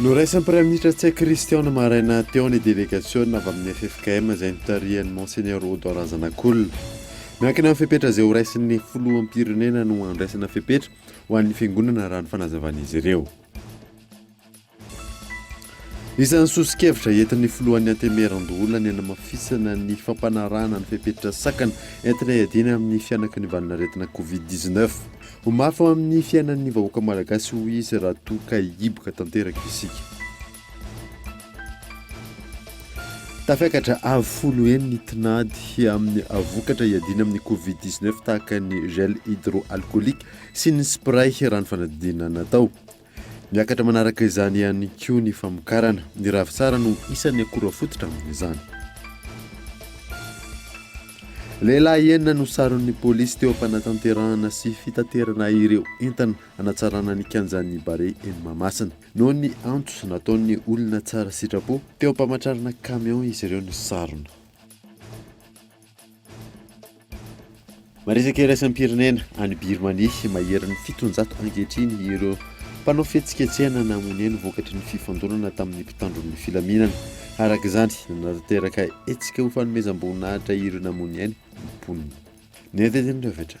Noraisan'ny Praiminisitra Tsek Christian maraina teo ny délégation avy amin'ny ffkm izay notarihan'ny Monseigneur Odon Razanakolona. Miankina amin'ny fepetra izay horaisin'ny Filoham-pirenena no handraisana fepetra ho an'ny Fiangonana raha ny fanazavan'izy ireo. Isan'ny soso-kevitra entin'ny filohan'ny Antemeran-doholona ny hanamafisana ny fampanarahana ny fepetra sakana entina hiadiana amin'ny fihanaky ny valin'aretina Covid dix-neuf. Ho mafy ho amin'ny fiainan'ny vahoaka malagasy hoy izy raha toa ka hihiboka tanteraka isika. Tafiakatra avo folo heny ny tinady amin'ny vokatra hiadiana amin'ny Covid dix-neuf tahaka ny gel hydroalcoolique sy ny spray raha ny fanadinana natao. Miakatra manaraka izany ihany koa ny famokarana. Ny ravintsara no isan'ny akora fototra amin'izany. Lehilahy enina no saron'ny polisy teo am-panatanterahana sy fitaterana ireo entana hanatsarana ny kianjan'ny Barea eny Mahamasina. Noho ny antso nataon'ny olona tsara sitrapo, teo am-pamatrarana kamiao izy ireo no sarona. Maresaka iraisam-pirenena any Birmania, maherin'ny fitonjato ankehitriny ireo mpanao fihetsiketsehana namonia ny vokatry ny fifandonana tamin'ny mpitandro ny filaminana. Araka izany, nanatanteraka hetsika ho fanomezam-boninahitra ireo namonia ny mponina. Ny andinindinin'ny rehetra.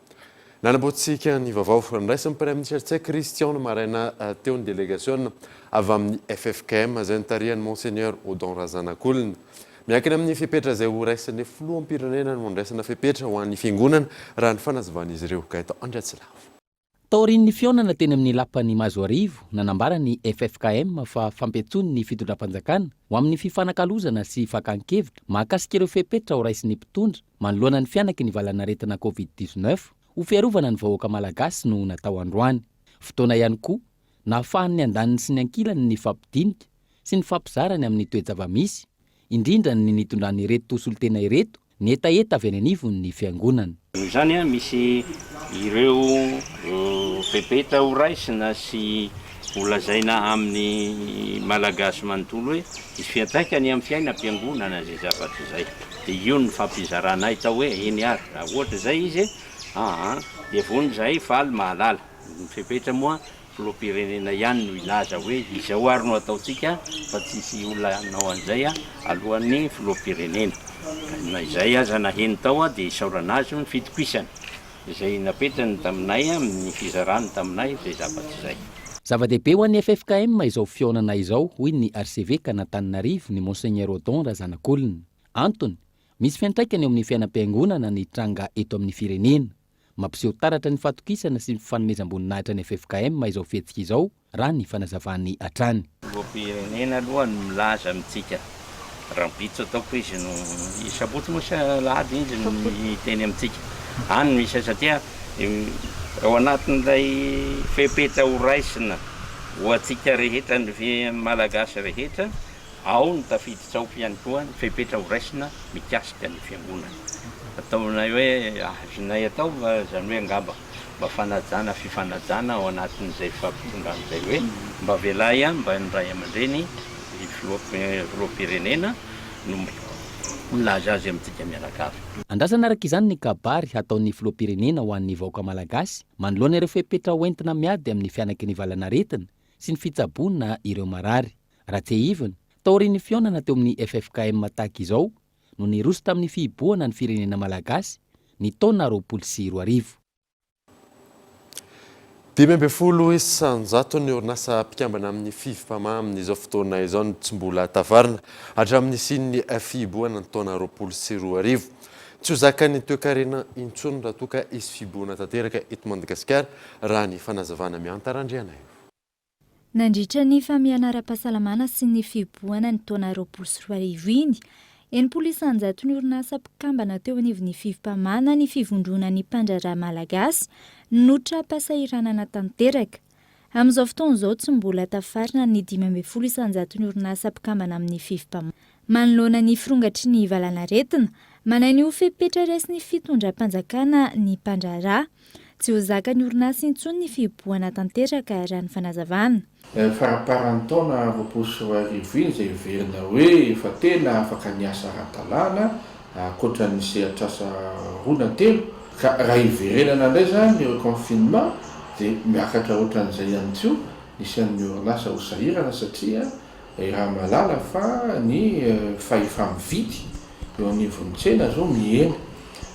Nanaboantsika ny vaovao noraisin'ny Praiminisitra Tsek Christian ny maraina teo ny delegasiona avy amin'ny ffkm izay notarihan'i Monseigneur Odon Razanakolona. Miankina amin'ny fepetra izay ho raisin'ny Filoham-pirenena no handraisana fepetra ho an'ny Fiangonana raha ny fanazavan'izy ireo. Gaëtan Andriatsilavo. Taorian'ny fihaonana teny amin'ny Lapan'i Mazoarivo, nanambara ny ffkm fa fampiantsoiny ny Fitondram-panjakana ho amin'ny fifanakalozana sy fakan-kevitra mahakasika ireo fepetra ho raisin'ny mpitondra, manoloana ny fihanaky ny valanaretina Covid dix-neuf ho fiarovana ny vahoaka Malagasy no natao androany. Fotoana ihany koa nahafahan'ny andaniny sy ny ankilany nifampidinika sy nifampizara ny amin'ny toe-java-misy, indrindra ny nitondran'ireto solontena ireto ny hetaheta avy any anivon'ny Fiangonana. Noho izany, misy ireo fepetra horaisina sy Ho lazaina amin'ny Malagasy manontolo hoe hisy fiantraikany amin'ny fiainam-piangonana izay zavatra izay. Dia io no nifampizarana ahy tao hoe eny ary raha ohatra izay izy e, aa dia vonona izahay faly mahalala. Ny fepetra moa filoham-pirenena ihany no hilaza hoe izao ary no ataontsika fa tsy hisy olona hanao an'izay alohan'ny filoham-pirenena. Na izay aza naheno tao aho dia isaorana azy io ny fitokisany. izay napetrany taminay amin'ny fizarany taminay izay zavatra izay. Zava-dehibe ho an'ny ffkm izao fihaonana izao, hoy ny arsevekan'Antananarivo, ny Monseigneur Odon Razanakolona. Antony, misy fiantraikany eo amin'ny fiainam-piangonana ny tranga eto amin'ny firenena. Mampiseho taratra ny fahatokisana sy ny fifanomezam-boninahitra ny ffkm izao fihetsika izao, raha ny fanazavany hatrany. Filoham-pirenena aloha no milaza amintsika rahampitso ataoko izy no i sabotsy moa sa alahady izy no hiteny amintsika any no misy satria ao anatin'ilay fepetra ho raisina ho antsika rehetra ny Malagasy rehetra ao no tafiditra ao ihany koa ny fepetra ho raisina mikasika ny fiangonana ataonay hoe azonay atao izany hoe angamba mba fanajana fifanajana ao anatin'izay fifampitondràna izay hoe mba avelahy ihany mba ny ray aman-dreny ny filoham-pirenena no milaza azy amintsika mianakavy. Andrasana araka izany ny kabary hataon'ny filoham-pirenena ho an'ny vahoaka malagasy manoloana ireo fepetra ho entina miady amin'ny fihanaky ny valan'aretina sy ny fitsaboana ireo marary. Raha tsiahivina, taorian'ny fihaonana teo amin'ny ffkm tahaka izao, no niroso tamin'ny fihibohana ny firenena malagasy ny taona roapolo sy roa arivo. Dimy ambin'ny folo isan-jato ny orinasa mpikambana amin'ny Fifpama amin'izao fotoana izao no tsy mbola tavarina hatramin'ny nisian'ny fihibohana ny taona roapolo sy roa arivo. Tsy ho zakan'ny toekarena intsony raha toa ka hisy fihibohana tanteraka eto Madagasikara, raha ny fanazavana miantaran'Andrianaivo. Nandritra ny famehana ara-pahasalamana sy ny fihibohana ny taona roapolo sy roa arivo iny, enimpolo isanjato ny orinasa mpikambana teo anivon'ny fivmpamana ny Fivondrona ny Mpandraharaha Malagasy notra-pasahiranana tanteraka. Amin'izao fotoana izao tsy mbola tafarina ny dimy ambin'ny folo isanjato ny orinasa mpikambana amin'ny fivmpamana. Manoloana ny firongatry ny valanaretina, manahy ny ho fepetra raisin'ny fitondram-panjakana ny mpandraharaha. Tsy ho zakan'ny orinasa intsony ny fihibohana tanteraka, raha ny fanazavana. Ilay faramparan'ny taona roapolo sy roa arivo iny izay heverina hoe efa tena afaka niasa ara-dalàna, ankoatra ny sehatr'asa roa na telo. Ka raha hiverenana indray izany eo confinement dia miakatra ohatran'izay ihany koa ny isan'ny orinasa ho sahirana satria. I Ramalala fa ny fahefa-mividy eo anivon'ny tsena izao mihena.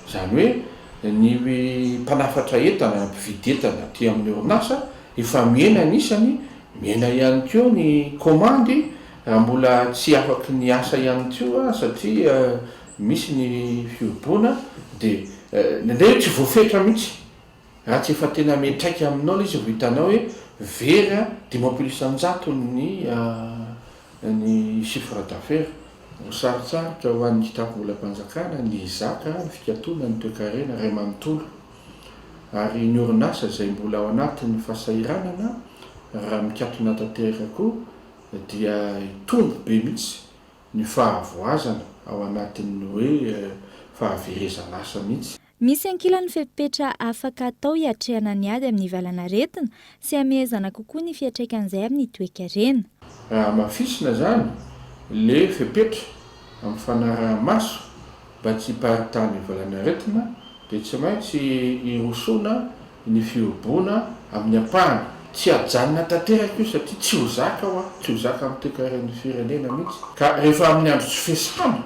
Izany hoe ny mpanafatra entana na mpividy entana aty amin'ny orinasa efa mihena ny isany, mihena ihany koa ny komandy raha mbola tsy afaky ny asa ihany koa satria misy ny fihoboana dia indraindray tsy voafetra mihitsy Raha tsy efa tena miantraika aminao ilay izy vao hitanao hoe very a, dimampolo isanjato ny ny chiffre d'affaires. Sarotsarotra ho an'ny kitapom-bolam-panjakana ny hizaka ny fikatonana ny toekarena iray manontolo ary ny orinasa izay mbola ao anatin'ny fahasahiranana raha mikatona tanteraka koa dia hitombo be mihitsy ny fahavoazana ao anatin'ny hoe fahaverezan'asa mihitsy. Misy ankilany fepetra afaka atao hiatrehana ny ady amin'ny valanaretina sy hamehezana kokoa ny fiantraikan'izay amin'ny toekarena. Raha hamafisina izany ilay fepetra amin'ny fanaraha-maso mba tsy hiparitahan'ny valanaretina dia tsy maintsy hirosoana ny fihoboana amin'ny ampahany. Tsy hajanona tanteraka io satria tsy ho zaka ho ahy, tsy ho zaka amin'ny toekaren'ny firenena mihitsy ka rehefa amin'ny andro tsy fiasana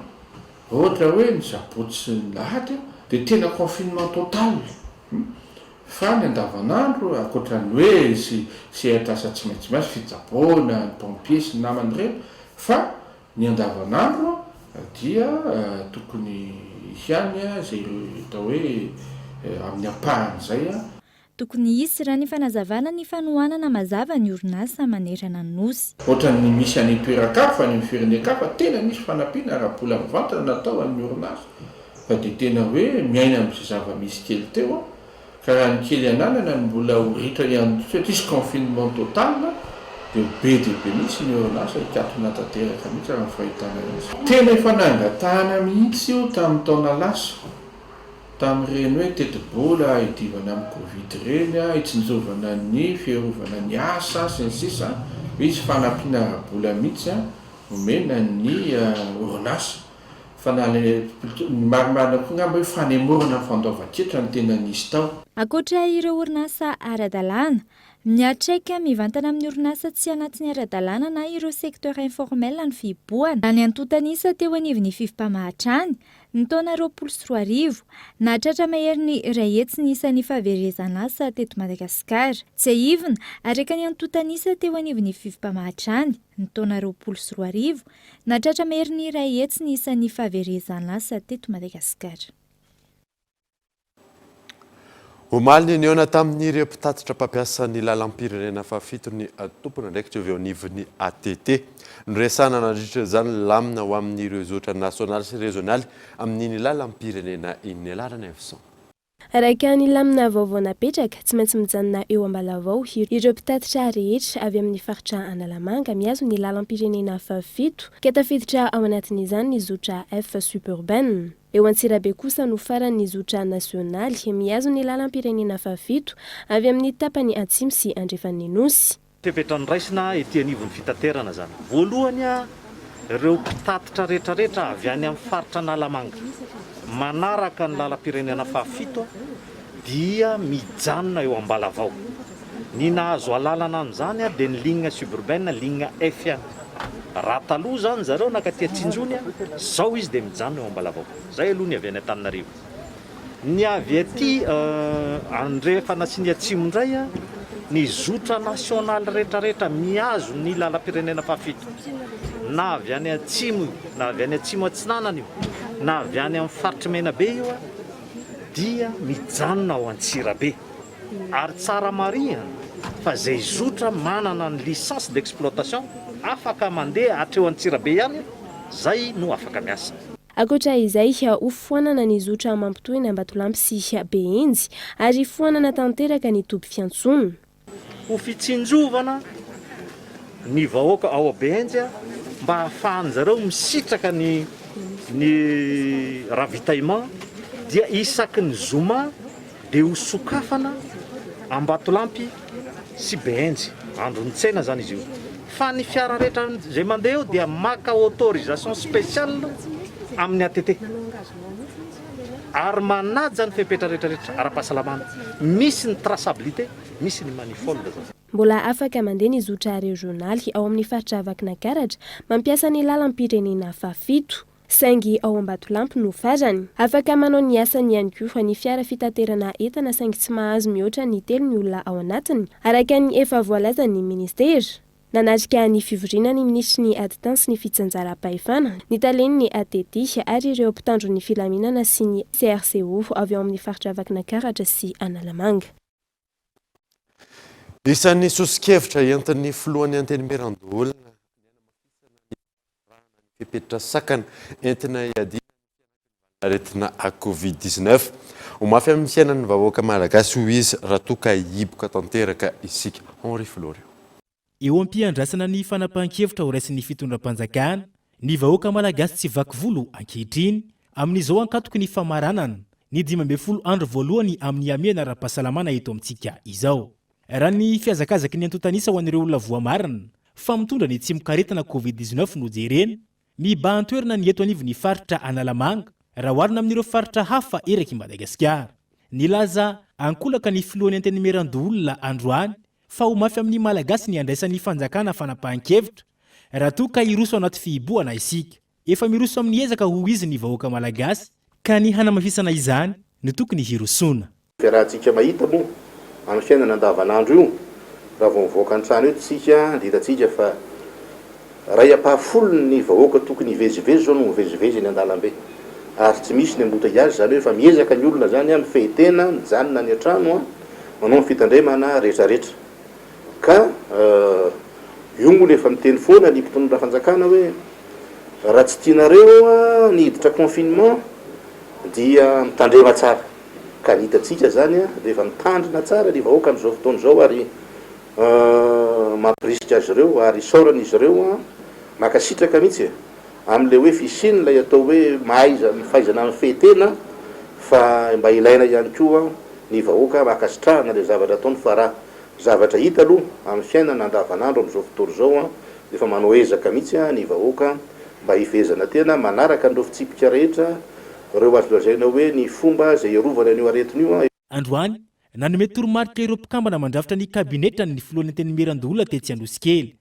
Ohatra hoe ny Jaboty sy ny Lahady dia tena confinement total fa ny andavanandro ankoatran'ny hoe sy sehatr'asa tsy maintsy miasa, fitsaboana, ny pompiers sy ny namany ireny fa ny andavanandro dia tokony ihany izay atao hoe amin'ny ampahany izay. Tokony hisy ra ny fanazavana ny fanohanana mazava ny orinasa manerana ny Nosy. Ohatran'ny misy any toeran-kafa, any amin'ny firenen-kafa, tena misy fanampiana ara-bola mivantana natao an'ny orinasa fa dia tena hoe miaina amin'izay zava-misy kely teo aho ka raha ny kely ananana no mbola ho ritra ihany koa satria tsy confinement total dia ho be dia be mihitsy ny orinasa hikatona tanteraka mihitsy raha ny fahitana azy. Tena efa nangatahana mihitsy io tamin'ny taona lasa. Tamin'ireny hoe tetibola hidiovana amin'ny Covid ireny, hitsinjovana ny fiarovana ny asa sy ny sisa, misy fanampiana ara-bola mihitsy omena ny orinasa. Fa na ilay plutôt ny marimarina koa angamba hoe fanemorana ny fandoavan-ketra no tena nisy tao. Ankoatra ireo orinasa ara-dalàna, miantraika mivantana amin'ny orinasa tsy anatin'ny ara-dalàna na ireo secteurs informels ny fihibohana. Raha ny antontan'isa teo anivon'ny fifimpamaha hatrany, Ny taona roapolo sy roa arivo, nahatratra maherin'ny iray hetsy ny isan'ny fahaverezan'asa teto Madagasikara. Tsiahivina, araka ny antontan'isa teo anivon'ny Fifpa mahatrany ny taona roapolo sy roa arivo, nahatratra maherin'ny iray hetsy ny isan'ny fahaverezan'asa teto Madagasikara. Omaly ny nihaona tamin'ireo mpitatitra mpampiasa ny lalam-pirenena fahafito ny tompon'andraikitra avy ao anivon'ny ATT. Noresahana nandritra izany ny lamina ho amin'ireo zotra nasionaly sy rezionaly amin'iny lalam-pirenena iny. Ny alaran'i Evison. Araka ny lamina vaovao napetraka, tsy maintsy mijanona eo Ambalavao ireo mpitatitra rehetra avy amin'ny faritra Analamanga mihazo ny lalam-pirenena fahafito ka tafiditra ao anatin'izany ny zotra F suburbaine. Eo Antsirabe kosa no farany ny zotra nasionaly, mihazo ny lalam-pirenena fahafito avy amin'ny tapany atsimo sy andrefan'ny Nosy. Fepetra noraisina ety anivon'ny fitaterana izany. Voalohany, ireo mpitatitra rehetrarehetra avy any amin'ny faritra Analamanga, manaraka ny lalam-pirenena fahafito, dia mijanona eo Ambalavao. Ny nahazo alalana an'izany dia ny ligne suburbaine, ligne F ihany. Raha taloha izany zareo nakaty Antsinjony, izao izy dia mijanona eo Ambalavao. Izay aloha ny avy any Antananarivo. Ny avy aty Andrefana sy ny Atsimo indray, ny zotra nasionaly rehetrarehetra mihazo ny lalam-pirenena fahafito, na avy any Atsimo io, na avy any Atsimo Atsinanana io, na avy any amin'ny faritr'i Menabe io, dia mijanona ao Antsirabe ary tsara marihana fa izay zotra manana ny licence d'exploitation afaka mandeha hatreo Antsirabe ihany izay no afaka miasa. Ankoatra izay, hofoanana ny zotra mampitohy ny Ambatolampy sy Behenjy ary hifoanana tanteraka ny toby fiantsoana. Ho fitsinjovana ny vahoaka ao Abehenjy mba hahafahan'ny zareo misitraka ny ny ravitaillement dia isaky ny zoma dia ho sokafana Ambatolampy sy Behenjy, andron'ny tsena izany izy io, fa ny fiara rehetra izay mandeha eo dia maka autorisation spéciale amin'ny ATT. ary manaja ny fepetra rehetrarehetra ara-pahasalamana, misy ny traçabilité, misy ny manifold. Mbola afaka mandeha ny zotra rezionaly ao amin'ny faritra Vakinakaratra, mampiasa ny lalam-pirenena fahafito, saingy ao Ambatolampy no farany. Afaka manao ny asany ihany koa ny fiara fitaterana entana saingy tsy mahazo mihoatra ny telo ny olona ao anatiny, araka ny efa voalazan'ny minisitera. Nanatrika ny fivoriana ny minisitry ny Aditany sy ny fitsinjaram-pahefana, ny talen'ny ATD ary ireo mpitandro ny filaminana sy ny CRCO avy ao amin'ny faritra Vakinakaratra sy Analamanga. Isan'ny soso-kevitra entin'ny filohan'ny Antenimierandoholona ny hanamafisana ny. ny fepetra sakana entina iadiana amin'ny aretina covid dix neuf. Ho mafy amin'ny fiainan'ny vahoaka malagasy hoy izy raha toa ka hihiboka tanteraka isika. Henri Florio. Eo am-piandrasana ny fanapahan-kevitra ho raisin'ny fitondram-panjakana, ny vahoaka malagasy tsy vaky volo ankehitriny. Amin'izao ankatoky ny famaranana ny dimy ambin'ny folo andro voalohany amin'ny hamehana ara-pahasalamana eto amintsika izao. Raha ny fihazakazaky ny antontan'isa ho an'ireo olona voamarina fa mitondra ny tsimokaretina covid dix neuf no jerena, mibahan-toerana ny eto anivon'ny faritra Analamanga raha oharina amin'ireo faritra hafa erak'i Madagasikara. Nilaza ankolaka ny filohan'ny Antenimierandoholona androany fa ho mafy amin'ny Malagasy ny handraisan'ny fanjakana fanapahan-kevitra raha toa ka hiroso anaty fihibohana isika. Efa miroso amin'ny ezaka hoy izy ny vahoaka Malagasy ka ny hanamafisana izany no tokony hirosoana. Dia raha tsika mahita moa amin'ny fiainana andavan'andro io raha vao mivoaka ny trano eto tsika dia hitantsika fa iray ampaha folo ny vahoaka tokony hivezivezy zao no mivezivezy eny andalambe ary tsy misy ny ambota iazy izany hoe efa miezaka ny olona zany a mifehy tena mijanona any antrano a manao ny fitandremana retraretra ka io moa no efa miteny foana ny mpitondra fanjakana hoe raha tsy tianareo a ny hiditra confinement dia mitandrema tsara. ka hitantsika zany a rehefa mitandrina tsara ny vahoaka amzao fotoana zao ary mampirisika azy ireo ary isaorana izy ireo a makasitraka mihitsy e amle hoe fisian'ilay atao hoe mahaiza fahaizana mifehy tena fa mba ilaina ihany koa ny vahoaka makasitrahana le zavatra ataony fa ra zavatra hita aloha amny fiainana andavanandro amzao fotoana zao a efa manao ezaka mihitsy a ny vahoaka mba hifehezana tena manaraka an'ireo fitsipika rehetra ireo azo lazaina hoe ny fomba izay hiarovana an'io aretina io. Androany, nanome toromarika ireo mpikambana mandrafitra ny kabinetran' ny Filohan'ny Antenimierandoholona tetsy Anosikely.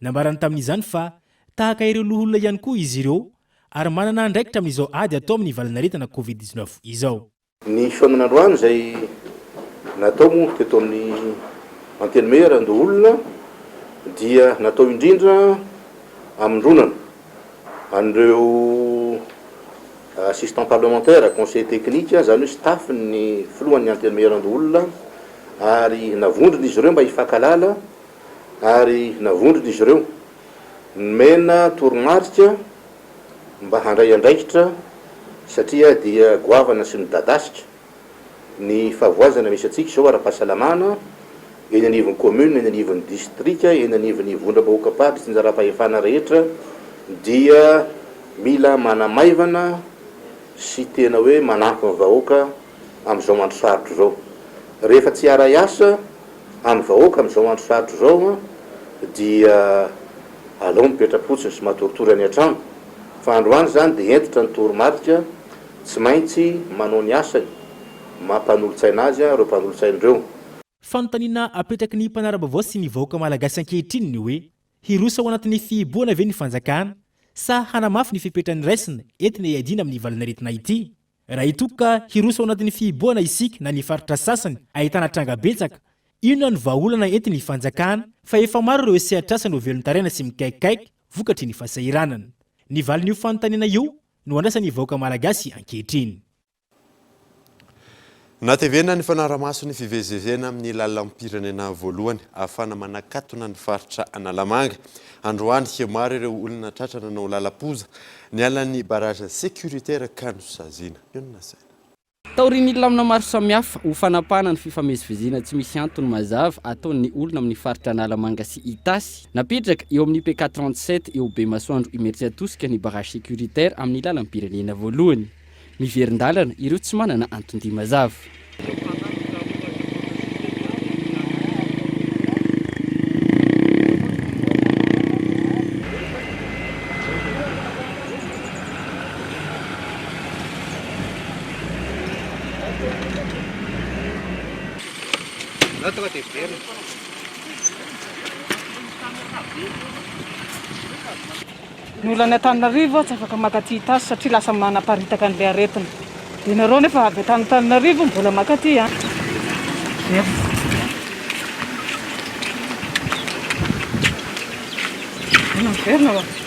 Nambarany tamin'izany fa tahaka ireo loholona ihany koa izy ireo ary manana andraikitra amin'izao ady atao amin'ny valanaretina Covid dix-neuf izao. Ny fihaonana androany izay natao moa teto amin'ny Antenimierandoholona dia natao indrindra haminronana. an'ireo assistant parlementaire, conseiller technique, izany hoe staff ny filohan'ny antenimierandoholona ary navondrona izy ireo mba hifankahalala ary navondrona izy ireo nomena toromarika mba handray andraikitra satria dia goavana sy midadasika. ny fahavoazana misy antsika izao ara-pahasalamana eny anivon'ny commune, eny anivon'ny distrika, eny anivon'ny vondram-bahoakam-paritra sy anjaram-pahefana rehetra dia mila manamaivana sy tena hoe manampy ny vahoaka amin'izao andro sarotra izao. Rehefa tsy hiaray asa amin'ny vahoaka amin'izao andro sarotra izao dia alao mipetra-potsiny sy matoritory any an-trano fa androany izany dia hentitra ny toromarika Tsy maintsy manao ny asany maha mpanolotsaina azy ireo mpanolotsainy ireo. Fanontaniana apetraky ny mpanara-baovao sy ny vahoaka malagasy ankehitriny ny hoe, hiroso ao anatin'ny fihibohana ve ny fanjakana sa hanamafy ny fepetra niraisina entina hiadiana amin'ny valin'aretina ity? Raha hitoky ka hiroso ao anatin'ny fihibohana isika na ny faritra sasany ahitana tranga betsaka, inona no vahaolana entin'ny fanjakana fa efa maro ireo sehatr'asa novelon-taraina sy mikaikikaiky vokatry ny fahasahiranana? Ny valin'io fanontaniana io no andrasan'ny vahoaka malagasy ankehitriny. Nahatevena ny fanarahamaso ny fivezivezena amin'ny lalam-pirenena voalohany ahafahana manakatona ny faritra Analamanga. Androany, maro ireo olona tratra nanao lalam-poza nialan'ny barrage sécuritaire ka nosaziana. Io no nasaina. Taorian'ny lamina maro samihafa ho fanapahana ny fifamezivezena tsy misy antony mazava ataon'ny olona amin'ny faritra Analamanga sy Itasy, napetraka eo amin'ny PK trente sept eo Bemasoandro Imeritsiatosika ny barrage sécuritaire amin'ny lalam-pirenena voalohany. Miverin-dalana ireo tsy manana anton-dia mazava. Ny olan'ny Antananarivo tsy afaka maka aty tasy satria lasa manaparitaka an'ilay aretina. Dia nareo nefa avy atany Antananarivo mbola maka aty an. Miverina. Miverina.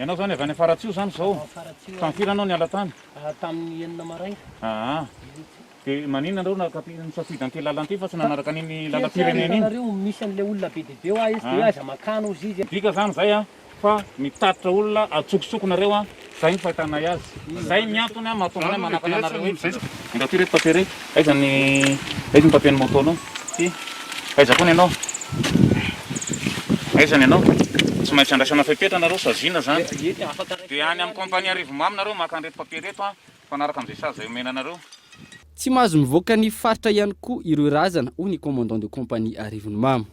Ianao izany avy any Faratsiho izany izao? Faratsiho. Tamin'ny firy ianao niala tany? Ah, tamin'ny enina maraina. Aa, ah. dia maninona anareo nakapy nisafidy an'ity lalana ity fa tsy nanaraka an'iny lalam-pirenena iny? Nareo misy an'ilay olona be dia be hoa izy dia aza makany hozy izy. Midika izany izay an? fa mitatitra olona atsokosoko nareo an, zay ny fahitanay azy, zay ny antony an mahatonga anay manakana anareo hoe. Ingahy ty reto papier rey aiza ny aiza ny papier ny moto nao ty aiza koa ny anao aiza ny anao tsy maintsy andraisana fepetra nareo saziana zany de any am compagnie arivomamo nareo maka anreto papier reto an mifanaraka amzay sazy zay omena anareo. Tsy mahazo mivoaka ny faritra ihany koa ireo razana hoy ny commandant de compagnie arivonimamo.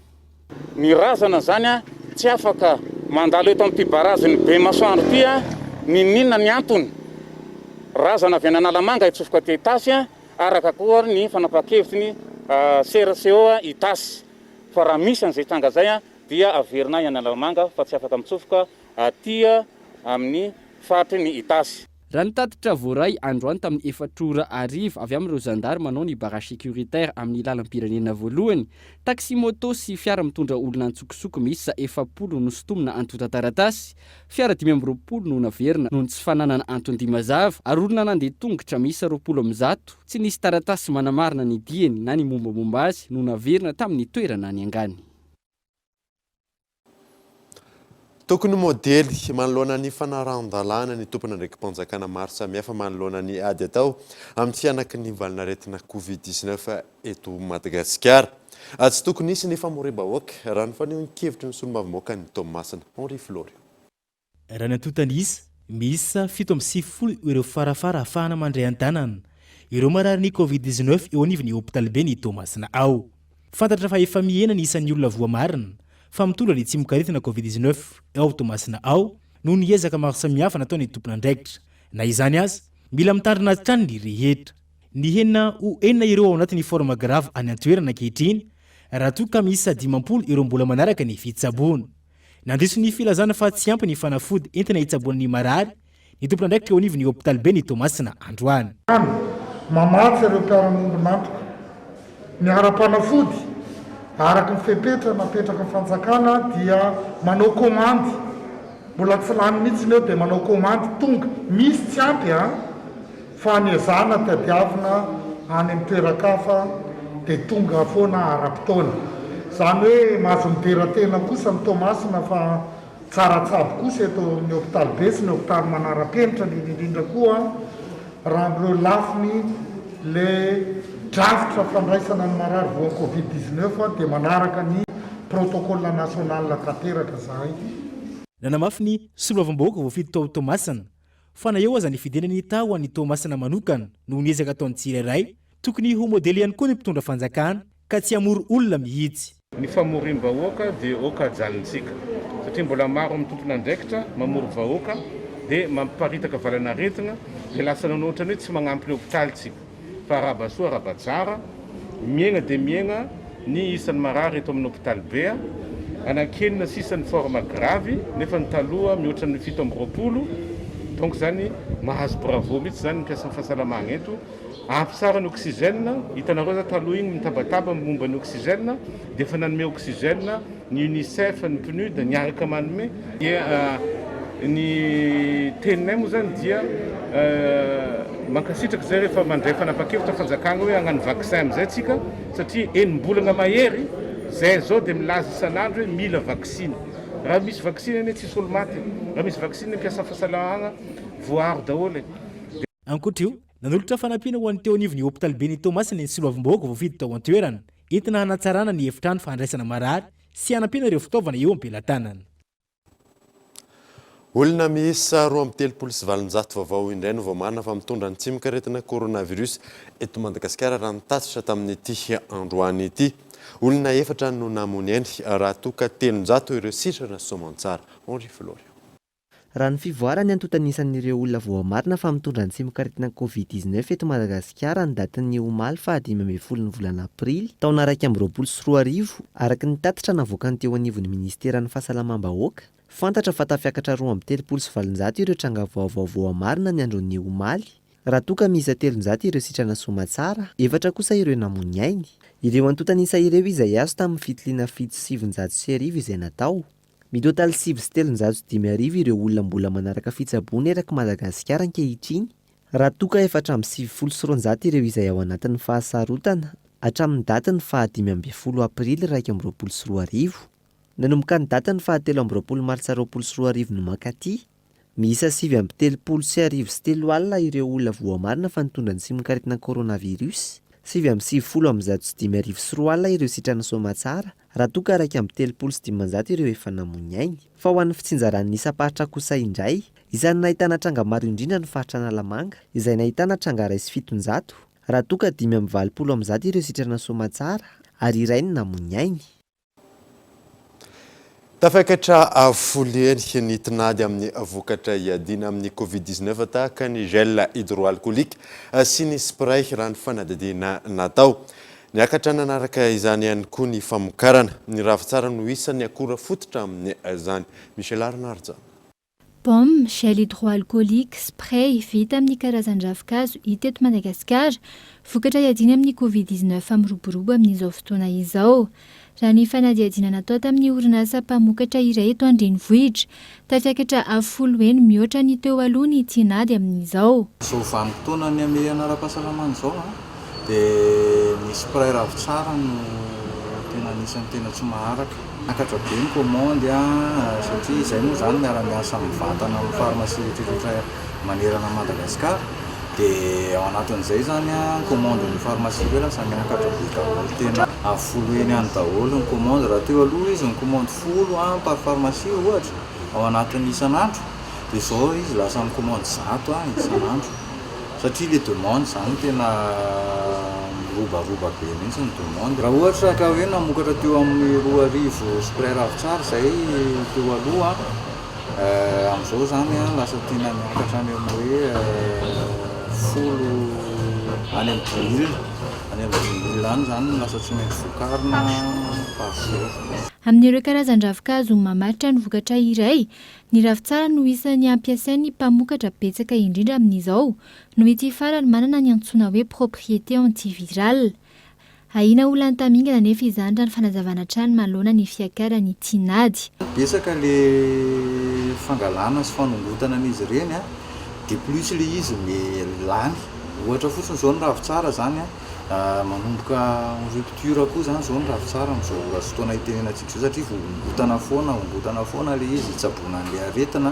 Ny razana zany tsy afaka mandalo eto amin'ity barazin'ny Bemasoandro ity n'inon'inona ny antony. Razana avy any Analamanga hitsofoka aty Itasy araka koa ary ny fanapahan-kevitry ny sera CO Itasy fa raha misy an'izay tranga izay dia averina any Analamanga fa tsy afaka mitsofoka aty amin'ny faritry ny Itasy. Raha ny tatitra voaray androany tamin'ny efatra ora hariva avy amin'ireo zandary manao ny barrage sécuritaire amin'ny lalam-pirenena voalohany, taxi-moto sy fiara mitondra olona an-tsokosoko miisa efapolo no sintomina antontan-taratasy, fiara dimy amby roapolo no naverina noho ny tsy fananana anton-dia mazava ary olona nandeha tongotra miisa roapolo amby zato tsy nisy taratasy manamarina ny diany na ny mombamomba azy no naverina tamin'ny toerana niangany. Tokony modely manoloana ny fanarahan-dalàna ny tompon'andraiki-panjakana maro samihafa manoloana ny ady atao amin'ny tsy hanaky ny valin'aretina Covid dix-neuf eto Madagasikara. Tsy tokony hisy ny famoriam-bahoaka, raha ny fanehoan-kevitry ny solombavambahoakan'i Toamasina, Henri Florio. Raha ny antontan'isa, miisa fito amby sivifolo ireo farafara ahafahana mandray an-tanana ireo mararin'ny Covid dix-neuf eo anivon'ny hopitaliben'i Toamasina ao. Fantatra fa efa mihena ny isan'ny olona voamarina fa mitondra ny tsimokaretina Covid dix-neuf ao Toamasina ao noho ny ezaka maro samihafa nataon'ny tompon'andraikitra. Na izany aza, mila mitandrina hatrany ny rehetra. Nihena ho enina ireo ao anatin'ny forme grave any an-toerana ankehitriny raha toa ka miisa dimampolo ireo mbola manaraka ny fitsaboana. Nandiso ny filazana fa tsy ampy ny fanafody entina hitsaboana ny marary ny tompon'andraikitra eo anivon'ny hopitaliben'i Toamasina androany. Hany, mamatsy ireo mpiara-miombon'antoka ny ara-panafody araka ny fepetra napetraky ny fanjakana dia manao komandy, mbola tsy lany mihitsy ny eo dia manao komandy tonga, misy tsy ampy an! Fa ny ezahana tadiavina any amin'ny toeran-kafa dia tonga foana ara-potoana. Izany hoe mahazo midera tena kosa ny Toamasina fa tsara tsabo kosa eto amin'ny hopitalibe sy ny hopitaly manara-penitra indrindra indrindra koa raha amin'ireo lafiny ilay drafitra fandraisana ny marary voan'ny covid dix-neuf dia manaraka ny protocole national tanteraka izahay. Nanamafy ny soloavam-bahoaka voafidy tao Toamasina Fa na eo aza ny fidiana ny taho an'i Toamasina manokana noho ny ezaka ataon'ny tsirairay, tokony ho modely ihany koa ny mpitondra fanjakana ka tsy hamory olona mihitsy. Ny famoriam-bahoaka dia ok ajalintsika satria mbola maro amin'ny tompon'andraikitra mamory vahoaka dia mamparitaka valanaretina dia lasa nanao ohatran'ny hoe tsy manampy ny hopitaly tsika. fa arabasoa arabajara, miaigna dia miaigna ny isan'ny marary eto amin'ny hopitaly be, anankenina sisa ny forme gravy nefa ny taloha mihoatra ny fito amby roapolo, donc izany mahazo bravo mihitsy izany ny mpiasan'ny fahasalamagna eto, ampy tsara ny oxygène, hitanareo zah taloha igny mitabataba momba ny oxygène dia efa nanome oxygène, ny UNICEF, ny PNUD miaraka manome, dia ny teninay moa izany dia mankasitraka izay rehefa mandray fanapahan-kevitra fanjakana hoe hagnano vaccin amin'izay tsika satria enim-bolana mahery izay izao dia milaza isan'andro hoe mila vaksiny. Raha misy vaksiny anie tsisy olo maty e! Raha misy vaksiny ny mpiasa fahasalahagna voaaro daholo e! Ankoatra io, nanolotra fanampiana ho an'ny teo anivon'ny hopitaliben'i Toamasina ny soloavim-bahoaka voafidy tao an-toerana. entina hanatsarana ny efitrano fandraisana marary sy hanampiana ireo fitaovana eo am-pelatanana. Olona miisa roa amby telopolo sy valonjato vaovao indray no vao marina fa mitondra ny tsimok'aretina coronavirus eto Madagasikara raha ny tatitra tamin'ity androany ity. Olona efatra no namoy ny ainy raha toa ka telonjato ireo sitrana soamantsara. Henri Florian. Raha ny fivoaran'ny antontan'isan'ireo olona voamarina fa mitondra ny tsimok'aretina Covid dix neuf eto Madagasikara ny datin'ny omaly faha dimy ambin'ny folo ny volana aprily taona iraika amby roapolo sy roa arivo araka ny tatitra navoakany teo anivon'ny minisiteran'ny fahasalamam-bahoaka, fantatra fa tafiakatra roa amby telopolo sy valonjato ireo tranga vaovao voamarina ny andron'ny omaly raha toa ka miisa telonjato ireo sitrana soamatsara, efatra kosa ireo namoy ny ainy. Ireo antontan'isa ireo izay azo tamin'ny fitiliana fito sy sivinjato sy arivo izay natao. Mitotaly sivy sy telonjato sy dimy arivo ireo olona mbola manaraka fitsaboana erak'i Madagasikara ankehitriny, raha toa ka efatra amby sivifolo sy roanjato ireo izay ao anatin'ny fahasarotana hatramin'ny datin'ny faha dimy ambin'ny folo aprily iraika amby roapolo sy roa arivo nanomboka ny datin'ny faha telo amby roapolo martsa roapolo sy roa arivo no mankaty Miisa sivy amby telopolo sy arivo sy telo alina ireo olona voamarina fa nitondra ny simonkaritina coronavirus, sivy amby sivifolo amin'ny zato sy dimy arivo sy roa alina ireo sitrana soamatsara, raha toa ka iraika amby telopolo sy dimanjato ireo efa namoy ny ainy. Fa ho an'ny fitsinjaran'ny isam-paritra kosa indray, isan'ny nahitana tranga maro indrindra ny faritra Analamanga, izay nahitana tranga iray sy fitonjato, raha toa ka dimy amby valopolo amin'ny zato ireo sitrana soamatsara, ary iray no namoy ny ainy. Tafakatra avo folo heny ny tinady amin'ny vokatra iadiana amin'ny Covid dix neuf tahaka ny gel hydroalcoolique sy ny spray raha ny fanadihadiana natao. Niakatra nanaraka izany ihany koa ny famokarana. Ny ravintsara no isan'ny akora fototra amin'izany. Michel Arnaud ary izany. Baume, gel hydroalcoolique, spray, vita amin'ny karazan-dravinkazo hita eto Madagasikara, vokatra iadiana amin'ny Covid dix neuf miroborobo amin'izao fotoana izao. Raha ny fanadihadiana natao tamin'ny orinasa mpamokatra iray eto an-drenivohitra, tafiakatra avo folo heny mihoatra ny teo aloha ny tinady amin'izao. Zao vanim-potoana nihamehana ara-pahasalamana izao, Dia ny spray ravitsara no tena anisan'ny tena tsy maharaka. Miakatra be ny commande satria izay moa izany miara-miasa amin'ny vatana amin'ny pharmacie rehetrarehetra manerana an'i Madagasikara dia ao anatin'izay izany ny commande ny pharmacie be lasa miakatra be daholo. Tena folo heny any daholo ny commande raha teo aloha izy ny commande folo par pharmacie ohatra ao anatin'ny isan'andro dia izao izy lasa mi-commande zato isan'andro. Satria ilay demande izany tena mirobaroba be mihitsy ny demande. Raha ohatra ka hoe namokatra teo amin'ny roa arivo sy mpiray ravintsara izay teo aloha, amin'izao izany lasa tiana miakatra any amin'ny hoe folo, any amin'ny dimy mille, any amin'ny dimy mille any izany no lasa tsy maintsy vokarina par jour. Amin'ireo karazan-dravin-kazo mamaritra ny vokatra iray Ny ravintsara no isan'ny ampiasain'ny mpamokatra betsaka indrindra amin'izao, noho ity farany manana ny antsoina hoe propriété antivirale. Ahiana ho lany tamingana anefa izany raha ny fanazavana hatrany manoloana ny fiakaran'ny tinady. Betsaka ilay fangalana sy fanongotana an'izy ireny, de plus ilay izy lany. Ohatra fotsiny izao ny ravintsara izany Manomboka en rupture koa izany izao ny ravintsara amin'izao ora sy fotoana itenenantsika izao satria vohongotana foana, vohongotana foana ilay izy hitsaboana an'ilay aretina,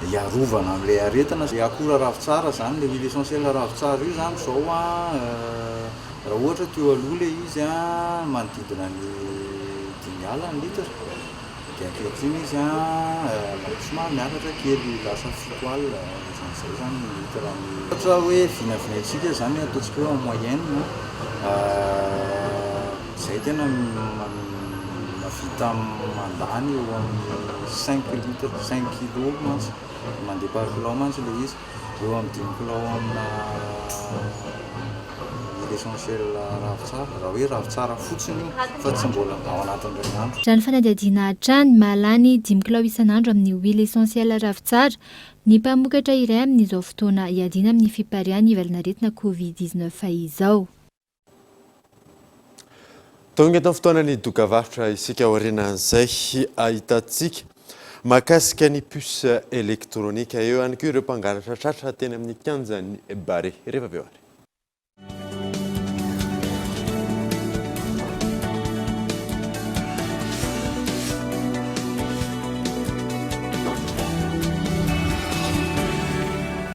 hiarovana amin'ilay aretina. Ilay akora ravintsara izany, ilay huile essentielle ravintsara io izany izao raha ohatra teo aloha ilay izy manodidina ny dimy alina ny litre. Dia ankehitriny izy an, somary miakatra kely, lasa fito alina, ohatrany izay izany ny litre ny. Ohatra hoe vinavinaintsika izany, ataontsika hoe en moyenne izay tena mahavita mandany eo amin'ny cinq litres, cinq kilos mantsy, mandeha par kilo mantsy ilay izy. Eo amin'ny dimy kilao amina huile essentiel ravintsara, raha hoe ravintsara fotsiny io fa tsy mbola ao anatin'ny iray andro. Raha ny fanadihadiana hatrany, mahalany ny dimy kilao isan'andro amin'ny huile essentiel ravintsara ny mpamokatra iray amin'izao fotoana iadiana amin'ny fipariahan'ny valanaretina Covid dix-neuf izao. Tonga eto amin'ny fotoanan'ny dokavarotra isika aorianan'izay ahitantsika mahakasika ny puce elektronika. Eo ihany koa ireo mpangalatra tratra teny amin'ny kianjan'ny Barea. Rehefa avy eo ary.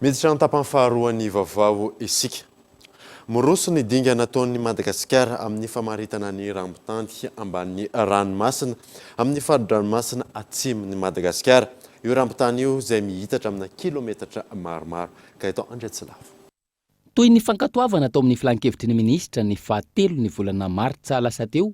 Miditra an-tapany faharoan'ny vaovao isika. Miroso ny dingana ataon'i Madagasikara amin'ny famaritana ny rambon-tany ambanin'ny ranomasina amin'ny fari-dranomasina atsimon'i Madagasikara io rambon-tany io izay miitatra amina kilometatra maromaro ka eto Andriantsilavo. Toy ny fankatoavana tao amin'ny Filan-kevitry ny Minisitra ny faha telo ny volana martsa lasa teo,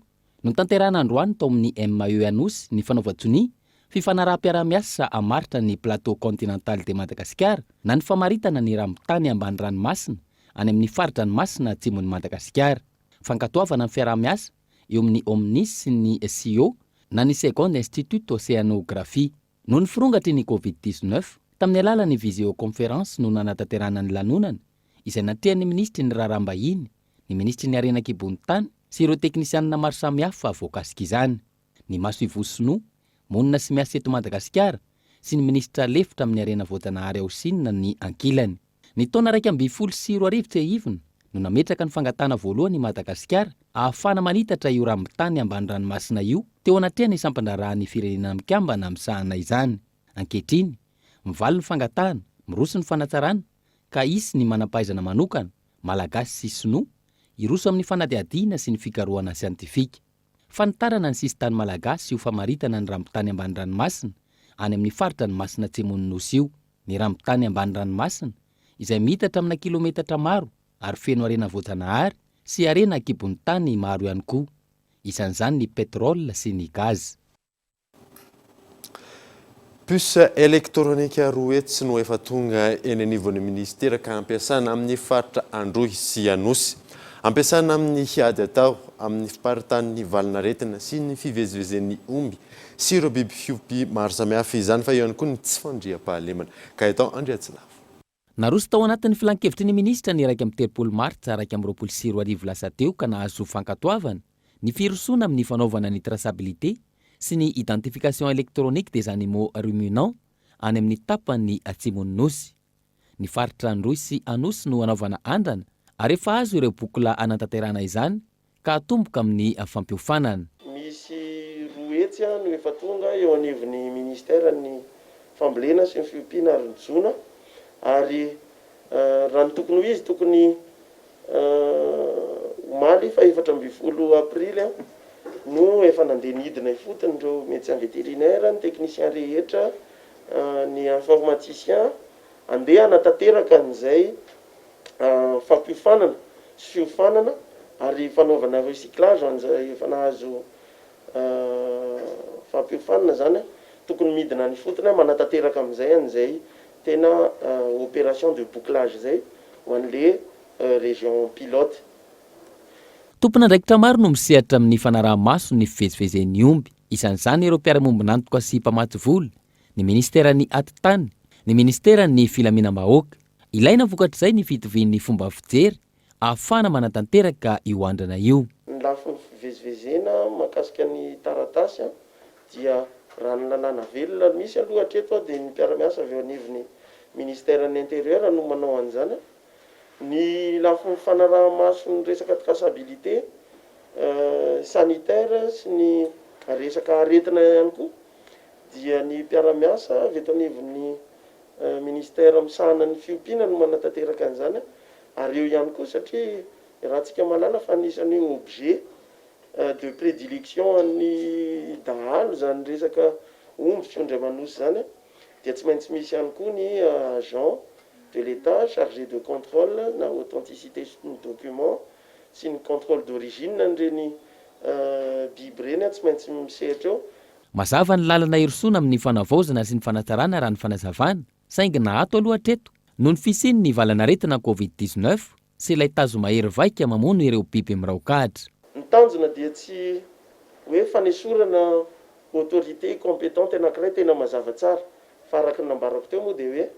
notanterahina androany tao amin'ny MAE Anosy ny fanaovan-tsonia, fifanaraham-piaraha-miasa hamaritra ny Plateau Continental de Madagascar na ny famaritana ny rambon-tany ambany ranomasina any amin'ny fari-dranomasina atsimon'i Madagasikara. Fankatoavana ny fiaraha-miasa eo amin'ny Omnis sy ny SIO na ny Second Institute Océanographie. Noho ny firongatry ny Covid dix-neuf, tamin'ny alalan'ny visioconférence no nanatanterahana ny lanonana, izay natrehan'ny minisitry ny Raharaham-bahiny, ny minisitry ny Harena an-kibon'ny tany sy ireo teknisianina maro samihafa voakasika izany, ny masoivoho sinoa, monina sy miasa eto Madagasikara, sy ny minisitra lefitra amin'ny harena voajanahary ao Sina ny ankilany. Ny taona iraika ambin'ny folo sy roa arivo tsiahivina no nametraka ny fangatahana voalohany i Madagasikara ahafahana manitatra io rambon-tany ambany ranomasina io teo anatrehan'ny sampan-draharahan'ny Firenena Mikambana misahana izany. Ankehitriny, mivaly ny fangatahana, miroso ny fanatsarana ka hisy ny manam-pahaizana manokana, Malagasy sy Sinoa, hiroso amin'ny fanadihadiana sy ny fikarohana siantifika. Fanitarana ny sisin-tany Malagasy io famaritana ny rambon-tany ambany ranomasina any amin'ny faritra ny Masina Atsimon'ny Nosy io. ny rambon-tany ambany ranomasina, izay miitatra amina kilometatra maro ary feno harena voajanahary sy harena an-kibon'ny tany maro ihany koa, isan'izany ny pétrole sy ny gaz. Puce elektronika roa hetsy no efa tonga eny anivon'ny minisitera ka ampiasana amin'ny faritra Androy sy Anosy. Ampiasana amin'ny ady atao amin'ny fiparitahan'ny valin'aretina sy ny fivezivezen'ny omby sy ireo biby fiompy maro samihafa, izany fa eo ihany koa ny tsy fandriampahalemana. Gaëtan Andriatsinafo. Naroso tao anatin'ny filankevitry ny minisitra ny iraika amby telopolo martsa iraika amby roapolo sy roa arivo lasa teo ka nahazo fankatoavana ny firosoana amin'ny fanaovana ny traçabilité sy ny identification électronique des animaux ruminants any amin'ny tapany atsimon'ny Nosy. Ny faritra Androy sy Anosy no hanaovana andrana ary efa azo ireo bokola hanatanterahana izany ka hatomboka amin'ny fampiofanana. Misy roa hetsy no efa tonga eo anivon'ny Ministeran'ny fambolena sy ny fiompiana ary ny jono ary raha ny tokony ho izy tokony omaly faha efatra ambin'ny folo aprily no efa nandeha nidina ifotony ireo Médecin vétérinaire, ny Technicien rehetra ny informaticien andeha hanatanteraka an'izay fampiofanana sy fiofanana ary fanaovana recyclage ho an'izay efa nahazo fampiofanana zany, tokony midina any ifotony an, manatanteraka amin'izay an'izay tena operation de bouclage zay ho an'le région pilote. Tompon'andraikitra maro no misehatra amin'ny fanaraha-maso ny fivezivezen'ny omby. Isan'izany ireo mpiara-miombon'antoka sy mpamatsy vola, ny Ministeran'ny Atitany, ny Ministeran'ny Filaminam-bahoaka. Ilaina vokatr'izay ny fitovian'ny fomba fijery ahafahana manatanteraka io andrana io. Ny lafiny fivezivezena mahakasika ny taratasy dia raha ny lalàna velona misy aloha hatreto dia ny mpiara-miasa avy eo anivon'ny Ministeran'ny Intérieur no manao an'izany. Ny lafiny fanaraha-maso ny resaka traçabilité sanitaire sy ny resaka aretina ihany koa dia ny mpiara-miasa avy eto anivon'ny Ministère misahana ny fiompiana no manatanteraka an'izany ary eo ihany koa satria iarahantsika mahalala fa anisan'ny hoe objet de prédilection an'ny dahalo izany resaka omby sy ondry aman'osy izany dia tsy maintsy misy ihany koa ny agent de l'Etat chargé de contrôle na authenticité ny document sy ny contrôle d'origine an'ireny biby ireny an, tsy maintsy misehatra eo. Mazava ny lalana hirosoana amin'ny fanavaozana sy ny fanatsarana raha ny fanazavana, saingy na ato aloha hatreto, noho ny fisian'ny valan'aretina covid dix-neuf, Tsy ilay tazo mahery vaika mamono ireo biby miraok'adra. Ny tanjona dia tsy hoe fanesorana autorité compétente anankiray tena mazava tsara fa araka ny nambarako teo moa dia hoe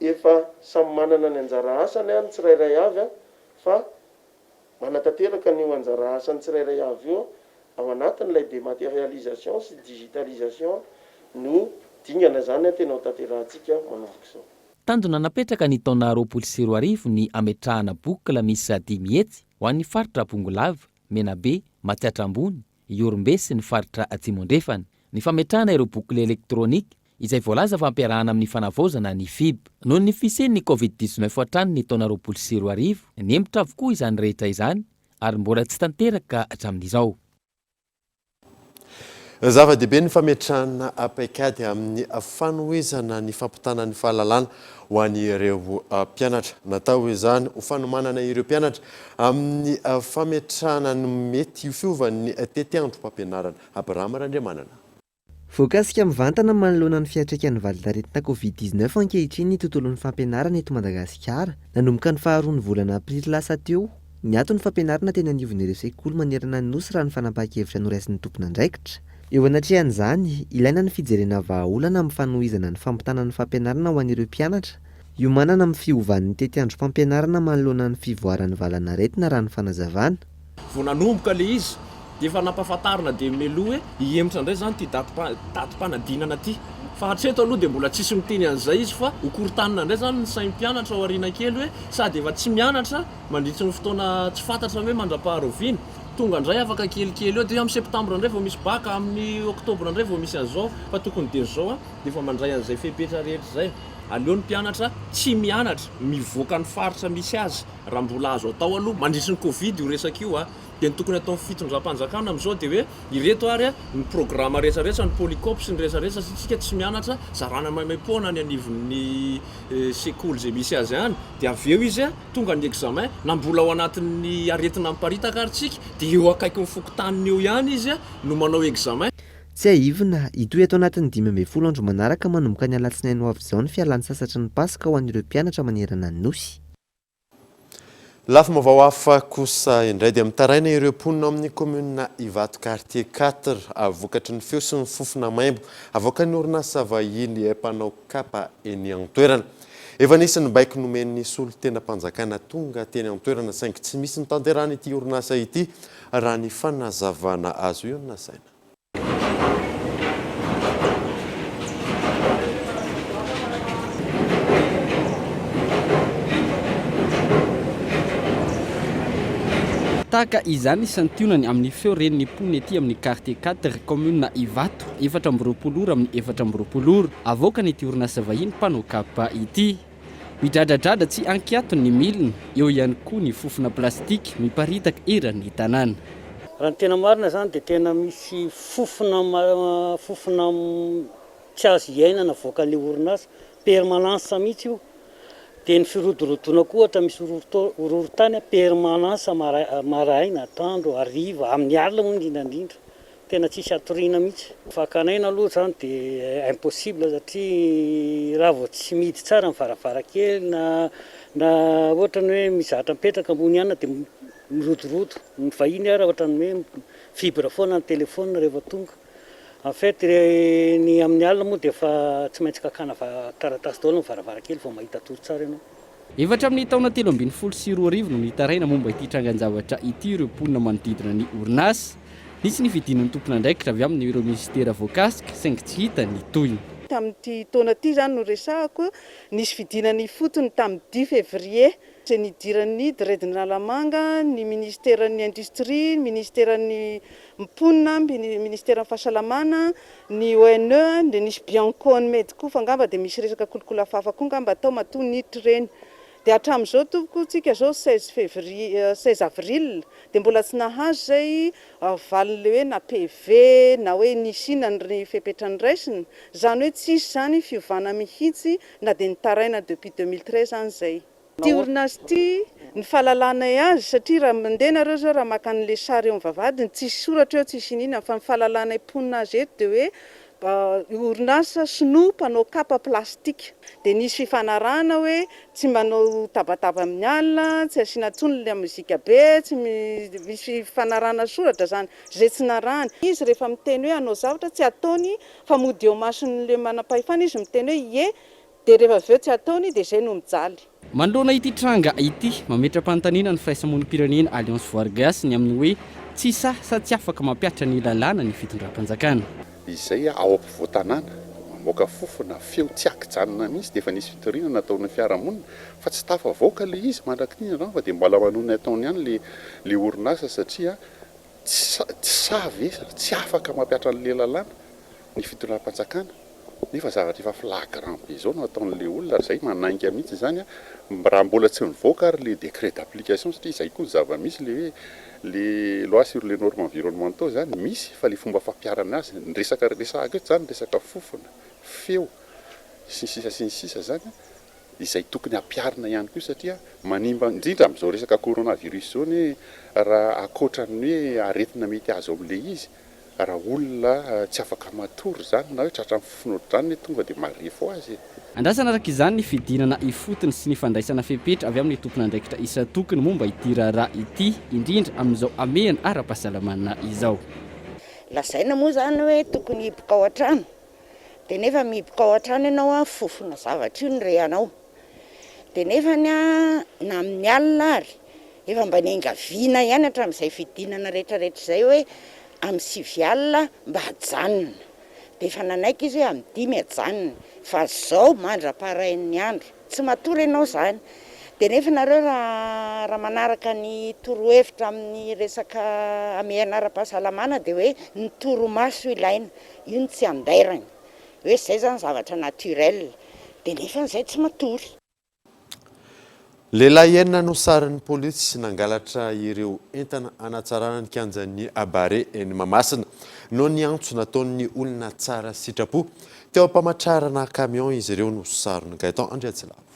efa samy manana ny anjara asany ny tsirairay avy fa manatanteraka an'io anjara asan'ny tsirairay avy io ao anatin'ilay dématérialisation sy digitalisation no dingana izany tena hotanterahantsika manomboka izao. Tanjona napetraka ny taona roapolo sy roa arivo ny hametrahana boucle miisa dimy hetsy ho an'ny faritra Bongolava, Menabe, Matsiatra Ambony, Ihorombe sy ny faritra Atsimo Andrefana, ny fametrahana ireo boucle électronique izay voalaza fa ampiarahana amin'ny fanavaozana ny fib. Noho ny fisian'ny Covid dix-neuf hatrany ny taona roapolo sy roa arivo, nihemotra avokoa izany rehetra izany ary mbola tsy tanteraka hatramin'izao. Zava-dehibe ny fametrahana paikady amin'ny fanohizana ny fampitana ny fahalalana ho an'ireo mpianatra. Natao izany ho fanomanana ireo mpianatra amin'ny fametrahana ny mety ho fiovan'ny tetiandrom-pampianarana. Abraham Randriamanana. Voakasika mivantana manoloana ny fiantraikan'ny valin-taretina Covid dix-neuf ankehitriny ny tontolon'ny fampianarana eto Madagasikara. Nanomboka ny faharoan'ny volana aprily lasa teo, niato ny fampianarana teny anivon'ireo sekoly manerana ny Nosy raha ny fanapahan-kevitra noraisin'ny tompon'andraikitra. Eo anatrehan'izany, ilaina ny fijerena vahaolana amin'ny fanohizana ny fampitana ny fampianarana ho an'ireo mpianatra, hiomanana amin'ny fiovan'ny tetiandrom-pampianarana manoloana ny fivoaran'ny valanaretina raha ny fanazavana. Vao nanomboka ilay izy dia efa nampahafantarina dia meloa hoe hihemotra indray izany ity datim-panadinana ity. Fa hatreto aloha dia mbola tsisy miteny an'izay izy fa ho korontanina indray izany ny sain'ny mpianatra ao aoriana kely hoe sady efa tsy mianatra mandritry ny fotoana tsy fantatra hoe mandra-paharaoviana. Tonga indray afaka kelikely eo dia amin'ny septambra indray vao misy bac, amin'ny oktobra indray vao misy an'izao fa tokony dia izao an dia efa mandray an'izay fepetra rehetra izay. Aleo ny mpianatra tsy mianatra mivoaka ny faritra misy azy. Raha mbola azo atao aloha, mandritry ny covid io resaka io a, dia ny tokony hataon'ny fitondram-panjakana amin'izao dia hoe, ireto ary ny programa rehetra rehetra, ny polycope sy ny rehetra rehetra, satria isika tsy mianatra, zarana maimaim-poana any anivon'ny sekoly izay misy azy any, dia avy eo izy tonga ny examen, na mbola ao anatin'ny aretina miparitaka ary tsika, dia eo akaikin'ny fokontaniny eo ihany izy no manao examen. Tsiahivina, hitohy ato anatin'ny dimy ambin'ny folo andro manaraka manomboka ny alatsinainy ho avy izao ny fialantsasatry ny paska ho an'ireo mpianatra manerana ny Nosy. Lafim-baovao hafa kosa indray dia mitaraina ireo mponina ao amin'ny kaominina Ivato Quartier quatre a vokatry ny feo sy ny fofona maimbo avoakan'ny orinasa vahiny mpanao kapa eny an-toerana. Efa nisy ny baiko nomen'ny solontenam-panjakana tonga teny an-toerana saingy tsy misy notanterahan'ity orinasa ity raha ny fanazavana azo eo Nasaina. Tahaka izany ny santionany amin'ny feo ren'ny mponina ety amin'ny Quartier Quatre, Kaominina Ivato, efatra amby roapolo ora amin'ny efatra amby roapolo ora, avoakan'ity orinasa vahiny mpanao kapa ity. Midradradradra tsy ankiato ny milina, eo ihany koa ny fofona plastika miparitaka eran'ny tanàna. Raha ny tena marina izany dia tena misy fofona fofona tsy azo hiainana avoakan'ny orinasa, permanence mihitsy io. Dia ny firodorodoana koa ohatra misy horohorontany permanence maraina, atoandro, hariva, amin'ny alina moa indrindra indrindra. Tena tsisy hatoriana mihitsy. Fakana aina aloha izany dia impossible satria raha vao tsy mihidy tsara ny varavarankely na na ohatra ny hoe mizatra mipetraka ambony ihany dia mirodorodo. Ny vahiny ary ohatra ny hoe mi-vibre foana ny téléphone rehefa tonga. En fait ny amin'ny alina moa dia efa tsy maintsy kakana taratasy daholo ny varavarankely vao mahita tory tsara ianao. Efa hatramin'ny taona telo ambin'ny folo sy roa arivo no nitaraina momba ity trangan-javatra ity ireo mponina manodidina ny orinasa. Nisy ny fidinan'ny tompon'andraikitra avy amin'ireo minisitera voakasika saingy tsy hita ny tohiny. Tamin'ity taona ity izany no resahako, nisy fidinana ifotony tamin'ny dimy février, izay nidiran'ny DREDN'Analamanga, ny minisiteran'ny industrie, ny minisiteran'ny mponina, ny minisiteran'ny fahasalamana, Ny ONE dia nisy Biancone Made koa fa angamba dia misy resaka kolikola fafa koa angamba tao matoa niditra ireny. Dia hatramin'izao tompoko tsika izao seize février seize avril dia mbola tsy nahazo izay valin'ilay hoe na PV na hoe nisy inona ny fepetra niraisina. Izany hoe tsisy izany fiovana mihitsy na dia nitaraina depuis deux mille treize any izay. Ity orinasa ity ny fahalalanay azy satria raha mandeha nareo zao raha maka anle sary eo am vavahadiny tsisy soratra eo tsisy iniana fa ny fahalalanay mponina azy eto dia hoe orinasa sinoa mpanao kapa plastic dia nisy fifanarahana hoe tsy manao tabataba aminy alina tsy asiana tsony la mozika be tsy misy fifanarahana soratra zany zay tsy narahany izy rehefa miteny hoe hanao zavatra tsy ataony fa mody eo masonle manampahefana izy miteny hoe ie Dia rehefa avy eo tsy ataony dia izay no mijaly. Manoloana ity tranga ity, mametra-panontaniana ny firaisamonim-pirenena Alliance Voargasy ny amin'ny hoe tsy sahy sa tsy afaka mampihatra ny lalàna ny fitondram-panjakana. Izay ao ampovoan-tanàna, mamoaka fofona, feo tsy an-kijanona mihitsy dia efa nisy fitoriana nataon'ny fiarahamonina fa tsy tafavoaka ilay izy mandrak'ity ny rano fa dia mbola manohy ny ataony ihany ilay orinasa satria tsy sahy ve sa tsy afaka mampihatra an'ilay lalàna ny fitondram-panjakana nefa zavatra efa flagrant be zao no ataon'le olona ary zay manainga mihitsy izany a, raha mbola tsy mivoaka ary le décret d'application satria izay koa ny zava-misy le hoe le loi sur les normes environnementaux zany misy fa le fomba fampiharana azy, ny resaka resahako eto zany resaka fofona, feo sy ny sisa sy ny sisa zany a, izay tokony hampiharina ihany koa satria manimba indrindra amin'izao resaka coronavirus zao anie raha akoatran'ny hoe aretina mety azo amin'le izy, Raha olona tsy afaka matory izany na hoe tratran'ny fofona ohatr'izany anie tonga dia marefo ho azy e! Andrasana araka izany ny fidinana ifotony sy ny fandraisana fepetra avy amin'ny tompon'andraikitra isan-tokony momba ity raharaha ity, indrindra amin'izao hamehana ara-pahasalamana izao. Lazaina moa izany hoe tokony hihiboka ao an-trano, dia nefa mihiboka ao an-trano ianao an, fofona zavatra io no rehanao. Dia nefa ny ahy na amin'ny alina ary efa mba niangaviana ihany hatramin'izay fidinana rehetrarehetra izay hoe amin'ny sivy alina mba hajanona, dia efa nanaiky izy hoe amin'ny dimy hajanona fa izao mandra-parain'ny andro tsy matory ianao izany, dia nefa nareo raha manaraka ny torohevitra amin'ny resaka hamehana ara-pahasalamana dia hoe ny torimaso ilaina, io no tsy andairana, hoe izay izany zavatra naturel dia nefa izay tsy matory. Lehilahy enina no sarin'ny polisy nangalatra ireo entana hanatsarana ny kianjan'ny Abare eny Mahamasina noho ny antso nataon'ny olona tsara sitrapo. Teo am-pamatrarana camion izy ireo no saron'i Gaëtan Andriatsilavo.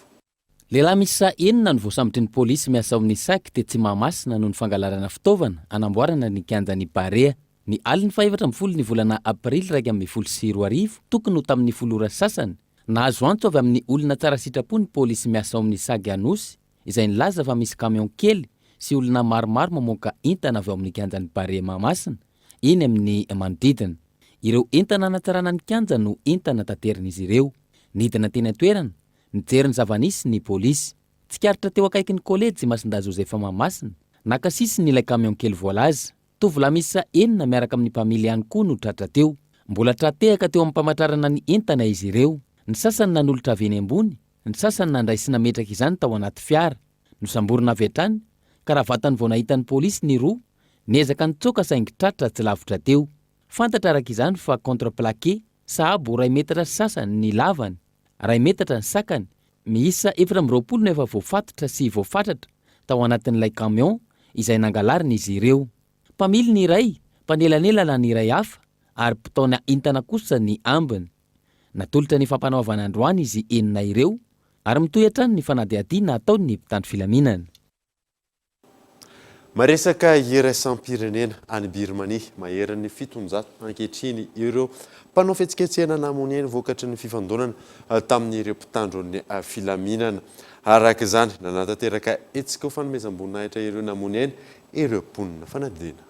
Lehilahy miisa enina no voasambotry ny polisy miasa ao amin'ny sac tetsy Mahamasina noho ny fangalarana fitaovana hanamboarana ny kianjan'ny Barea. Ny alin'ny fahefatra ambin'ny folo ny volana aprily iraika ambin'ny folo sy roa arivo, tokony ho tamin'ny folo ora sasany, nahazo antso avy amin'ny olona tsara sitrapo ny polisy miasa ao amin'ny sac Anosy izay nilaza fa misy camion kely sy olona maromaro mamoaka entana avy ao amin'ny kianjan'ny Barea Mahamasina eny amin'ny manodidina. Ireo entana hanatsarana ny kianja no entana taterin'izy ireo. Nidina teny an-toerana Nijery ny zava-nisy ny polisy. Tsikaritra teo akaikin'ny kolejy Masindahy Joseph Mahamasina, naka sisiny ilay camion kely voalaza. Tovolahy miisa enina miaraka amin'ny mpamily ihany koa no tratra teo. Mbola tra-tehaka teo am-pamatrarana ny entana izy ireo. Ny sasany nanolotra avy eny ambony, ny sasany nandray sy nametraka izany tao anaty fiara. Nosamborina avy hatrany, ka raha vatany vao nahita ny polisy ny roa. Niezaka nitsoaka saingy tratra tsy lavitra teo. Fantatra araka izany fa contreplaqué, sahabo iray metatra sy sasany ny lavany, iray metatra ny sakany, miisa efatra amby roapolo no efa voafatotra sy voafatratra tao anatin'ilay camion izay nangalarina izy ireo. Mpamily ny iray, mpanelanelana ny iray hafa ary mpitaona entana kosa ny ambiny. Natolotra ny fampanoavana androany izy enina ireo ary mitohy hatrany ny fanadihadiana ataon'ny mpitandro filaminana. Maresaka iraisam-pirenena any Birmania. Maherin'ny fitonjato ankehitriny ireo mpanao fihetsiketsehana namonia ny vokatry ny fifandonana tamin'ireo mpitandron'ny filaminana. Araka izany, nanatanteraka hetsika ho fanomezam-boninahitra ireo namonia aina ireo mponina fanadinana.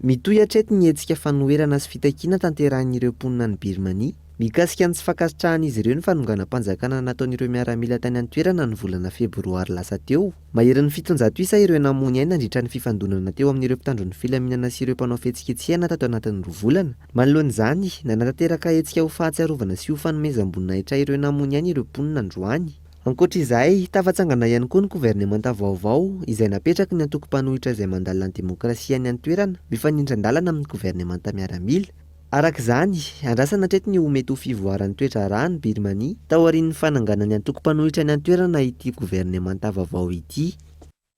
Mitohy hatreto ny hetsika fanoherana sy fitakiana tanterahin'ireo mponina any Birmania, mikasika ny tsy fankasitrahan'izy ireo ny fanonganam-panjakana nataon'ireo miaramila tany an-toerana ny volana febroary lasa teo. Maherin'ny fitonjato isa ireo namoy ny ainy nandritra ny fifandonana teo amin'ireo mpitandro ny filaminana sy ireo mpanao fihetsiketsehana tato anatin'ny roa volana. Manoloana izany, nanatanteraka hetsika ho fahatsiarovana sy ho fanomezam-boninahitra ireo namoy ny ainy ireo mponina androany. Ankoatra izay, tafatsangana ihany koa ny governemanta vaovao izay napetraky ny antoko mpanohitra izay mandala ny demokrasia any an-toerana mifanindran-dalana amin'ny governemanta miaramila. Araka izany, andrasana hatreto ny ho mety ho fivoaran'ny toe-draharaha any Birmania taorian'ny fananganan'ny antoko mpanohitra any an-toerana ity governemanta vaovao ity.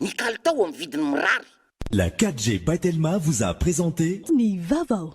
Ny kalitao amin'ny vidiny mirary. La 4G by Telma vous a présenté. Ny vava o!